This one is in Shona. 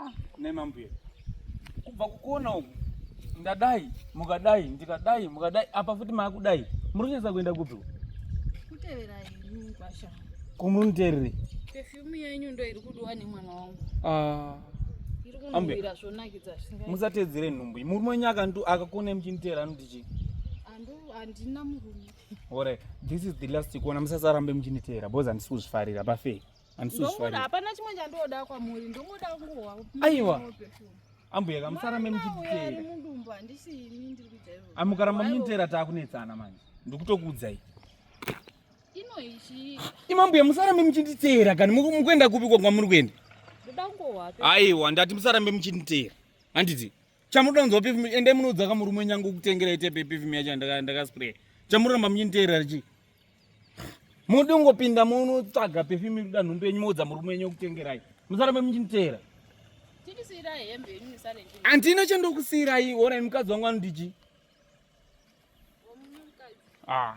Ah, nei mambuya kubva kukona uku ndadai mukadai ndikadai mukadai apa futi maakudai muri kunyatsa kuenda kupi kuteverai mugwasha kumunuterere pefyumu yenyu ndo iri kudiwa nemwana wangu ah. musatedzere nhumbu murume wenyu akantu akakonai muchiniteera anoti chii handina murume ore this is the last kuona musasarambe muchiniteera bcause handisi kuzvifarira pafei ndomuda hapana chimwe chandoda kwamuri ndomuda kungohwa aiwa ambuya kamusarame muchitera amukaramba muchitera taakunetsana manje ndikutokuudzai imambuya musarambe muchinditeera kani mukuenda kupi kwa kwamuri kuenda aiwa ndati musarambe muchinditeera handiti chamunoda kunzwa pefim endai munoudza kamurume nyange kutengerai tepe pefim yacho ndakaspraya chamuramba muchinditeera richii Mudi ungopinda muno tsvaga perfume iri kuda nhumbu yenyu moudza murume wenyu okutengerai. Musarambe muchiniteera. Tindisiirai hembe yenyu musare ndini. Handina chandokusiirai, honai mukadzi wangu anondiji. Ah.